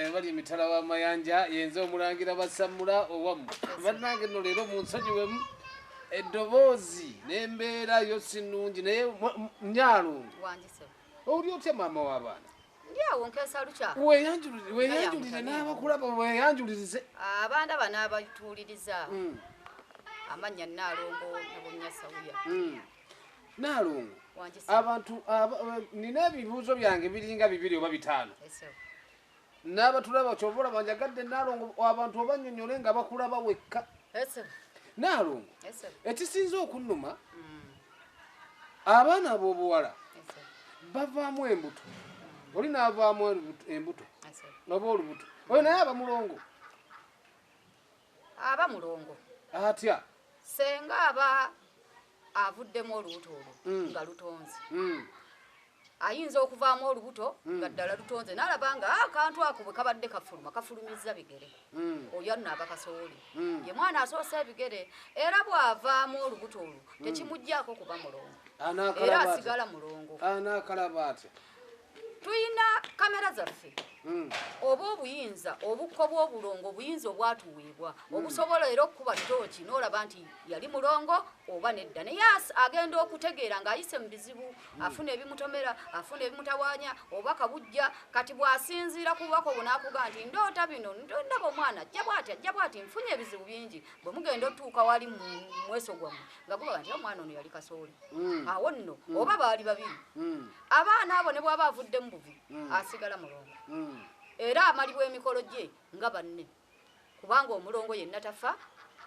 Ebali emitala w'amayanja yenze omulangira basammula owamu bannange no leero munsonyiwemu eddoboozi n'embeera yo si nnungi naye nyalungu oli otya maama w'abaana ndyawo nkesa lukya weyanjulire n'abakulaba weyanjulirize abaana bano abatuuliriza hmm. amannya naalongo nabunyasawuya hmm. Naalongo, abantu nina ebibuuzo byange biringa bibiri oba bitaano n'abatulaba kyova olaba njagadde Naalongo abantu obanyonyole nga bakulaba wekka. Naalongo, ekisinza okunnuma mm. abaana ab'obuwala bavaamu embuto mm. oli n'avaamu embuto oba olubuto oyo naye aba mulongo. Aba mulongo. Atya? Senga aba avuddemu olubuto olwo mm. nga lutonze. Mm. Ayinza okuvaamu olubuto mm. nga ddala lutonze n'alaba nga ah, akantu ako bwe kabadde kafuluma kafulumizza bigere mm. oyo anno aba kasooli mm. ye mwana asoosa ebigere era bw'avaamu olubuto olwo mm. tekimuggyako kuba mulongo era asigala mulongo anaakalaba atya tulina kamera zaffe hmm. oba obuyinza obukko bw'obulongo obuyinza obwatuweebwa hmm. obusobola era okukuba tooki n'olaba nti yali mulongo oba nedda naye agenda okutegeera ng'ayise mu bizibu hmm. afuna ebimutomera afuna ebimutawanya oba kabujja kati bw'asinziira ku bubaka obwo n'akuga nti ndoota bino ndaba omwana ajja bwati ajja bwati nfunye ebizibu bingi bwe mugenda otuuka wali mu mweso gwammwe nga gubaga nti omwana ono yali kasooli awo nno oba baali babiri abaana abo ne bwaba avudde mu buvi hmm. asigala mulongo hmm. era amalibwa emikolo gye nga banne kubanga omulongo yenna tafa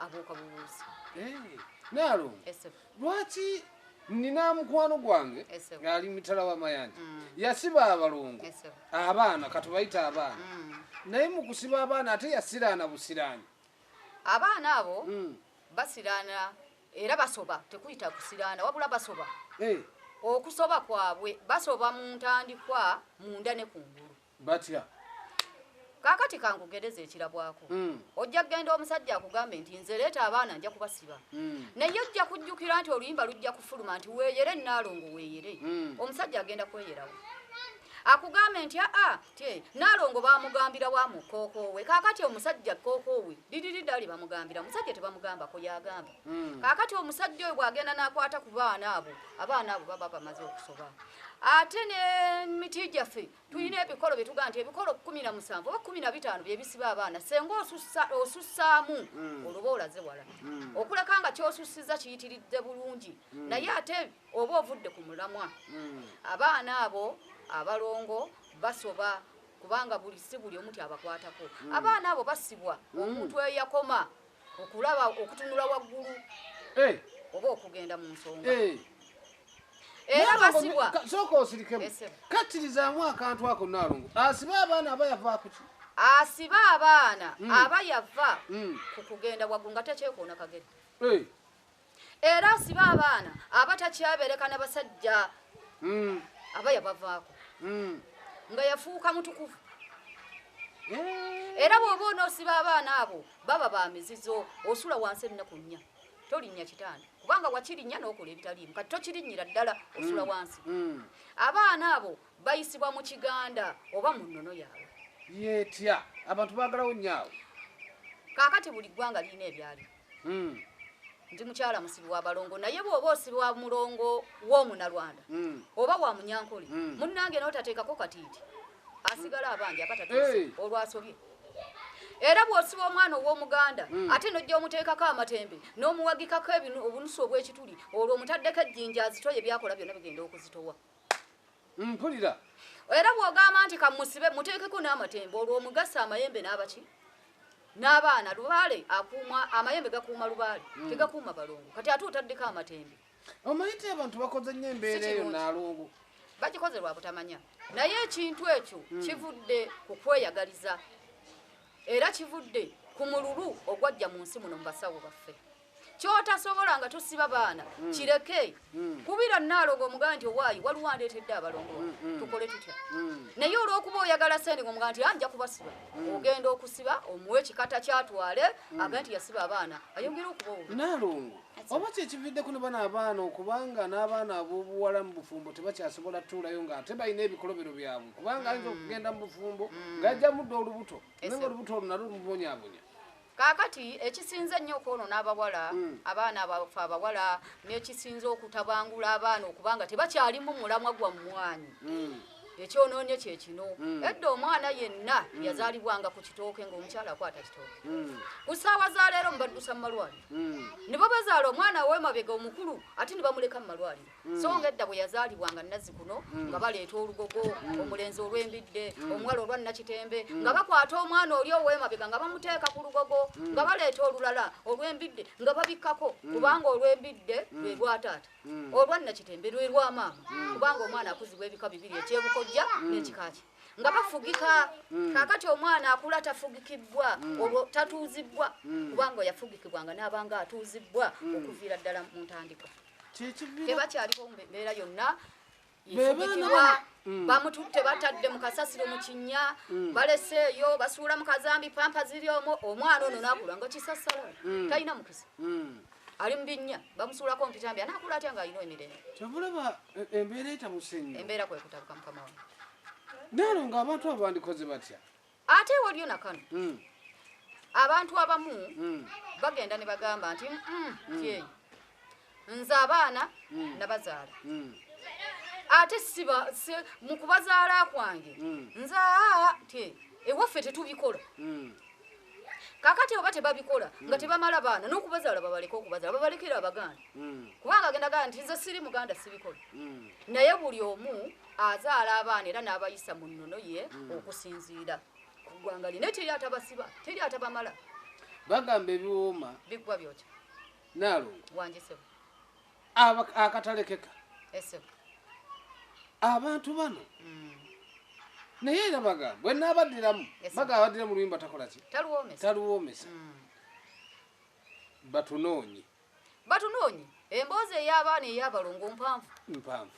abuuka bubuuzi eh, naalo lwaki nina mukwano gwange ngaali mitala wamayanja hmm. yasiba abalongo abaana katubayita abaana naye mu kusiba abaana ate yasiraana busiraani abaana abo basiraana Era basoba tekuyita kusiraana wabula basoba eh. okusoba kwabwe basoba mu ntandikwa munda ne kungulu batya kakati kankugereza ekirabwako mm. ojja kugenda omusajja akugambe nti nze leeta abaana nja kubasiba mm. naye ojja kujjukira nti oluyimba lujja kufuluma nti weeyere naalongo weeyere mm. omusajja agenda kweyerawo akugambe nti aa tye nalongo bamugambira wa mu kookoowe kakati omusajja kookoowe didiridi ali bamugambira omusajja tebamugamba ko yagamba hmm. kakati omusajja oyo bwagenda nakwata ku baana abo abaana abo baba bamaze okusoba ate ne miti gyaffe tulina hmm. ebikolo byetugaa nti ebikolo kumi na musanvu oba kumi na bitaano byebisiba abaana senga osussaamu hmm. oluba olaze wala okuleka nga kyosussiza kiyitiridde bulungi naye ate oba ovudde ku mulamwa hmm. abaana abo abalongo basoba kubanga buli si buli omuti abakwatako hmm. abaana abo basibwa hmm. omuntu eyo yakoma okulaba okutunula waggulu eh. oba okugenda mu nsonga eh. era basibwa sooka osirikemu kakkirizamu akantu ako naalongo asibe abaana aba yavaakuki asibe abaana aba yava ku kugenda waggulu nga tekyekoona kagere eh. era asiba abaana aba takyabeereka na basajja hmm. aba yabavaako hmm. nga yafuuka mutukuvu era bwoba onosiba abaana abo baba ba mizizo osula wansi ennaku nnya tolinnya kitanda kubanga wakirinnya n'okola ebitaliimu kati tokirinnyira ddala osula mm. wansi mm. abaana abo bayisibwa mu kiganda oba mu nnono yaabwe yetya abantu bagalawo nyaawo kaakati buli ggwanga lirina ebyaliwo mm. ndi mukyala musibi wa balongo naye bwoba osibi wa mulongo womunalwanda mm. oba wa munyankole mm. munange notatekako katiiti asigala abanja abatatuse hey. olwasobye era bwosiba omwana owomuganda mm. ate nojja omuteekako amatembe nomuwagikako obunusu obwekituli olwo omutaddeko ejjinja azitoye byakola byona bigenda okuzitowa mpulira era bwogamba nti kamusibe muteekeko n'amatembo olwo omugasa amayembe n'abaki n'abaana lubaale akuuma amayembe gakuuma lubaale hmm. tegakuuma balongo kati ate otaddeko amatembe omayite abantu bakoze nnyo embeera eyo nalongo bakikoze lwa butamanya naye ekintu ekyo hmm. kivudde ku kweyagaliza era kivudde ku mululu ogwajja mu nsi muno mu basawo baffe kyotasobola nga tosiba baana mm. kireke mm. kubira nalogo omugaa nti owaayi waliwo andeetedde abalongo mm, tukole tutya naye olwokuba oyagala sente nga omugaa nti ah, nja kubasiba ogenda okusiba omuwe ekikata kyatwale aga nti yasiba abaana ayongere okubaonalongo oba kyekividde kuno bana abaana okubanga n'abaana abobuwala mu bufumbo tebakyasobola tuulayo nga ate balina ebikolobero byabwe kubanga ayinza okugenda mu bufumbo ngajja mudde olubuto naye nga olubuto olunalo lumubonyabonya kakati ekisinze ennyo okwonoona abawala hmm. abaana abafe abawala nekisinze okutabangula abaana okuba nga tebakyalimu mulamwa gwa mmwanyi hmm. ekyonoonye kyekino hmm. edda omwana yenna yazaalibwanga ku kitooke ngaomukyala akwata kitooke ku ssaawa za leero mubaddusa mu malwaliro ne babazaala omwana wemabega omukulu ate ne bamuleka mu malwaliro Mm. so nga edda bwe yazaalibwanga nazzikuno mm. nga baleeta olugogo mm. omulenzi olw'embidde omuwala olwa nakitembe nga bakwata omwana oli ow'emabega nga bamuteeka ku lugogo nga baleeta olulala olw'embidde nga babikkako kubanga olw'embidde lwe lwataata olwa nakitembe lwe lwa maama kubanga omwana akuzibwa ebika bibiri ekyebukojja n'ekikaki nga bafugika kakati omwana akula tafugikibbwa olwo tatuuzibbwa kubanga yafugikibwa nga n'abanga atuuzibbwa okuviira ddala mu ntandikwa tebakyaliwo mu mbeera yonna yefugitibwa mm. bamututte batadde mu kasasiro mu kinnya mm. baleseeyo basuula mu kazambi pampa ziri omu omwana ono nakula nga kisasala mm. talina mukisa ali mu binnya bamusuulako mpitambi anakula atya nga alina emirembe kyovulaba e, embeera etamusenyo embeera kwekutabuka mukama wa naalo ng'abantu abandikoze batya ate waliyo nakano mm. abantu abamu mm. bagenda ne bagamba nti mm, mm, mm. ye nze abaana mm. nabazaala mm. ate siba si, mu kubazaala kwange mm. nze aa te ewaffe tetubikola mm. kakati oba tebabikola nga hmm. tebamala baana nokubazaala babaleka okubazaala babalekera abaganda hmm. kubanga agenda gaa nti nze siri muganda sibikola hmm. naye buli omu azaala abaana era n'abayisa mu nnono ye hmm. okusinziira ku ggwanga lye naye teri atabasiba teri atabamala bagamba ebiwooma bikuba byokya naalongo wange sebo akatalekeka esebo abantu bano hmm. naye era bagamba bwe naabaddiramu bagamba baddira mu luyimba takola ki taluwoomesa hmm. batunoonye batunoonye emboozi ey'abaana ey'abalongo mpanvu mpanvu